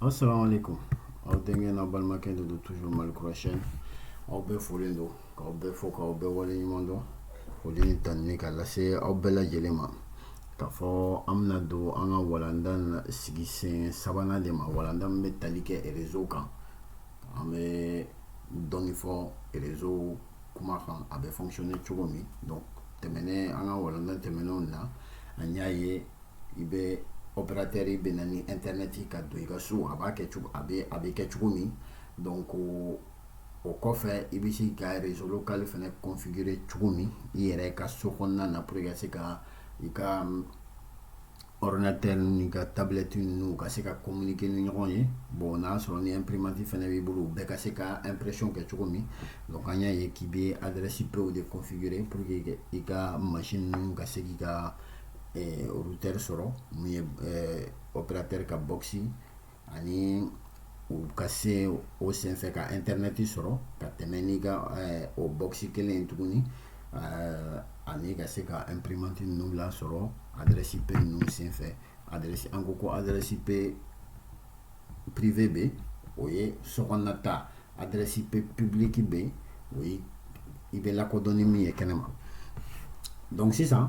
Assalamualaikum. Aw denkɛ n'a balimakɛ de don toujours Mali kura chaîne. Aw bɛɛ folen don. K'aw bɛɛ fo k'aw bɛɛ wale ɲuman dɔn. Foli ni tanuni ka lase aw bɛɛ lajɛlen ma. K'a fɔ an bɛna don an ka walanda sigi sen sabanan de ma. Walanda min bɛ tali kɛ réseau kan. An bɛ dɔɔni fɔ réseau kuma kan a bɛ fonctionner cogo min. Donc tɛmɛnen an ka walanda tɛmɛnenw na an y'a ye i bɛ opérateur bɛ na ni internet ye ka don i ka so a b'a kɛ cogo a bɛ a bɛ kɛ cogo min donc o kɔfɛ i bɛ se ka réseau local fana configurer cogo min i yɛrɛ ka so kɔnɔna na pour que ka se ka i ka ordinateur n'i ka tablette ninnu ka se ka communiquer ni ɲɔgɔn ye bon n'a sɔrɔ ni imprimante fana b'i bolo bɛɛ ka se ka impression kɛ cogo min donc an y'a ye k'i bɛ adresse IP de configurer pour que i ka machine ninnu ka se k'i ka routeur sɔrɔ min ye opérateur ka box ani u ka se o senfɛ ka internet sɔrɔ ka tɛmɛ n'i ka o box kelen in tuguni ani ka se ka imprimante ninnu lasɔrɔ adresse IP ninnu senfɛ adresse an ko ko adresse IP privé bɛ o ye so kɔnɔna ta adresse IP publique bɛ o ye i bɛ lakodɔn ni min ye kɛnɛ ma donc sisan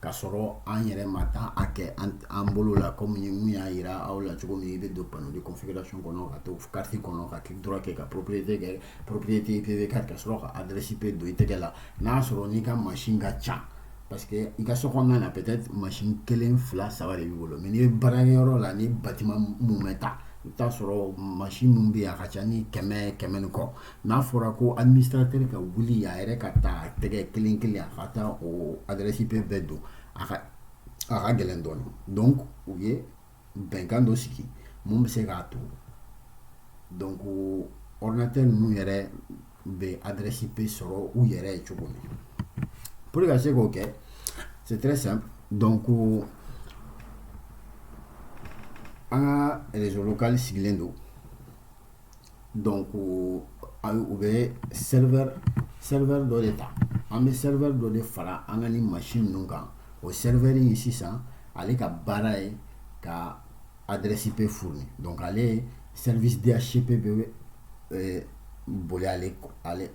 Ka sɔrɔ an yɛrɛ ma taa a kɛ an bolo la comme n y'a yira aw la cogo min i bɛ don panneau de configuration kɔnɔ ka to carte kɔnɔ ka clic droit kɛ ka propriété kɛ propriété IPv4 ka sɔrɔ ka adresse IP don i tɛgɛ la n'a sɔrɔ n'i ka machine ka ca parce que i ka so kɔnɔna na peut-être machine kelen fila saba de b'i bolo mais n'i bɛ baarakɛyɔrɔ la ni bâtiment mumɛ ta i bɛ taa sɔrɔ machine min bɛ yen a ka ca ni kɛmɛ kɛmɛ ni kɔ N'a fɔra ko administrateur ka wuli a yɛrɛ ka taa tɛgɛ kelen kelen a ka taa o adresse IP bɛɛ don a ka gɛlɛn dɔɔni donc u ye bɛnkan dɔ sigi min bɛ se k'a to donc ordinateur ninnu yɛrɛ bɛ adresse IP sɔrɔ u yɛrɛ ye cogo min pour que ka se k'o kɛ c'est très simple donc an ka réseau local sigilen don Donc u bɛ serveur dɔ de ta an bɛ serveur dɔ de fara an ka nin machine ninnu kan o serveur in sisan ale ka baara ye ka adresse IP fournir donc ale service DHCP bɛ euh, boli ale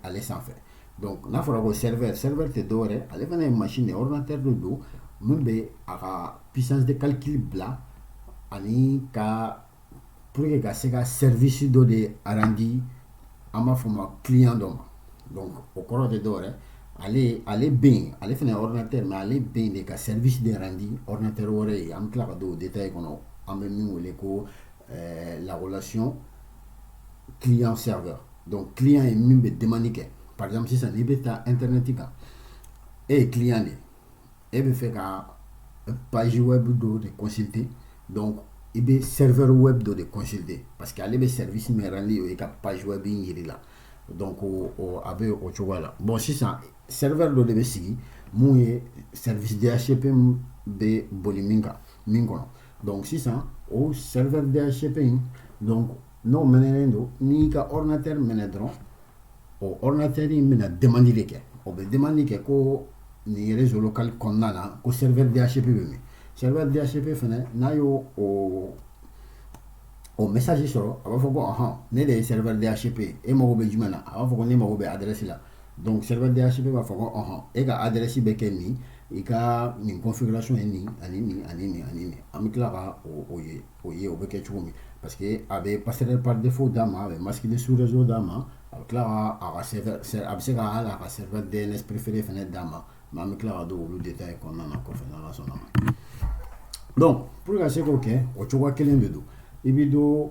ale sanfɛ donc n'a fɔra ko serveur serveur tɛ dɔwɛrɛ ale fana ye machine de ordinateur de don min bɛ a ka puissance de calcul bila ani ka pour que ka se ka service dɔ de rendre an b'a fɔ ma client dɔ ma donc o kɔrɔ tɛ dɔwɛrɛ ale ale bɛ yen ale fana ye ordinateur mais ale bɛ yen de ka service de rendre ordinateur wɛrɛ ye an bɛ tila ka don o détail kɔnɔ an bɛ min wele ko euh, la relation client serveur donc client ye min bɛ demande kɛ par exemple sisan n'i bɛ taa internet kan e ye client de ye e bɛ fɛ ka page web dɔ de consulter donc i bɛ serveur web dɔ de consulter parce que ale bɛ service min rendre o ye ka page web in yiri la donc a bɛ o cogoya la bon sisan serveur dɔ de bɛ sigi mun ye service DHCP bɛ boli min kɔnɔ donc sisan o serveur DHCP in donc N'o minɛen don n'i ka rinatɛri minɛ dɔrɔn otɛri in minɛ dɛmɛli de kɛ o bɛ dɛmɛ kɛ ko nin yɛrɛ zolokali kɔnɔna na ko sɛbɛndiyasifɛ bɛ min sɛbɛndiyasifɛ fana n'a y'o o misasi sɔrɔ a b'a fɔ ko ahɔn ne de ye sɛbɛndiyasifɛ ye e mago bɛ jumɛn na a b'a fɔ ko ne mago bɛ adɛrɛsi la don sɛbɛndiyasifɛ b'a fɔ koɔn e ka adɛrɛsi bɛ kɛ min i ka nin kɔnfilaso ye nin ani nin ani nin ani an bɛ tila ka o ye O ye o bɛ kɛ cogo min parce que a bɛ passerelle par défaut d'a ma a bɛ masque de sous-réseau d'a ma a bɛ tila a bɛ se ka a ka serveur DNS préféré fana d'a ma mais an bɛ tila ka don olu détail kɔnɔna na kɔfɛ n'Ala sɔnna ma donc pour ka se k'o kɛ o cogo kelen de don i bɛ don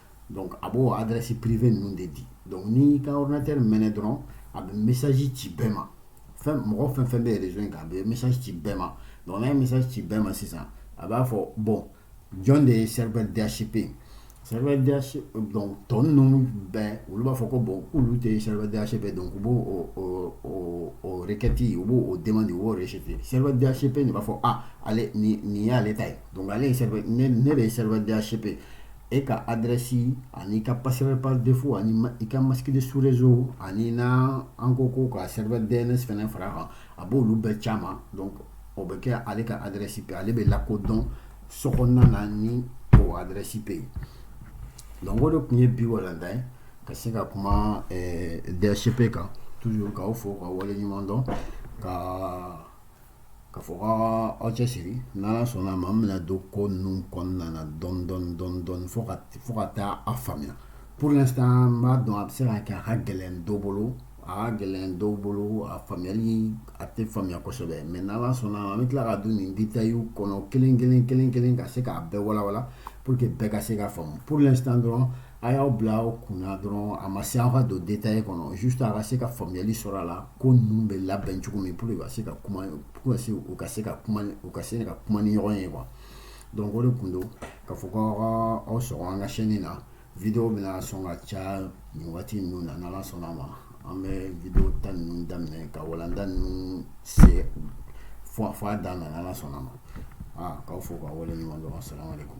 donc a b'o adresse privée ninnu de di donc n'i ka ordinateur mɛnɛ dɔrɔn a bɛ message ci bɛɛ ma fɛn mɔgɔ fɛn fɛn bɛ réseau in kan a bɛ message ci bɛɛ ma donc n'a ye message ci bɛɛ ma sisan a b'a fɔ bon jɔn de ye serveur DHCP ye serveur DHCP donc tɔ ninnu bɛɛ olu b'a fɔ ko bon k'olu tɛ serveur DHCP donc u b'o o o o o requête u b'o o demande u b'o rejeter serveur DHCP de b'a fɔ ah ale nin nin y'ale ta ye donc ale ye serveur ne ne de ye serveur DHCP e ka adrɛsi ani i ka passerelle par défaut ani i ka masque de sous-réseau ani na encore ka serveur DNS fana fara kan a b' olu bɛɛ c'a ma donc o bɛ kɛ ale ka adrɛsi IP ale bɛ lakodɔn réseau kɔnɔna na ni o adrɛsi IP ye donc o de tun ye bi walanda ye ka se ka kuma DHCP kan toujours k'aw fo k'aw wale ɲuman dɔn ka K'a fɔ ko aw cɛ siri n'Ala sɔnna ma an bɛna don ko ninnu kɔnɔna na dɔɔnin dɔɔnin fo fo ka taa a faamuya pour l'instant n b'a dɔn a bɛ se ka kɛ a ka gɛlɛn dɔ bolo a ka gɛlɛn dɔw bolo a faamuyali a tɛ faamuya kosɛbɛ mais n'Ala sɔnna ma an bɛ tila ka don nin détailw kɔnɔ kelen kelen kelen kelen ka se k'a bɛɛ walawala pour que bɛɛ ka se k'a faamu pour l'instant dɔrɔn a y'aw bila aw kunna dɔrɔn a ma se an ka don détail kɔnɔ juste a ka se ka faamuyali sɔrɔ a la ko ninnu bɛ labɛn cogo min pour ka se ka kuma pour ka se u ka se ka kuma u ka se ka kuma ni ɲɔgɔn ye quoi donc o de kun don k'a fɔ ko aw ka aw sɔgɔ an ka chaîne na video bɛna sɔn ka caya nin waati ninnu na n'ala sɔnna ma an bɛ video ta ninnu daminɛ ka walanda ninnu se fo a dan na n'ala sɔnna ma aa k'aw fo k'aw waleɲuman dɔn assalamu alaikum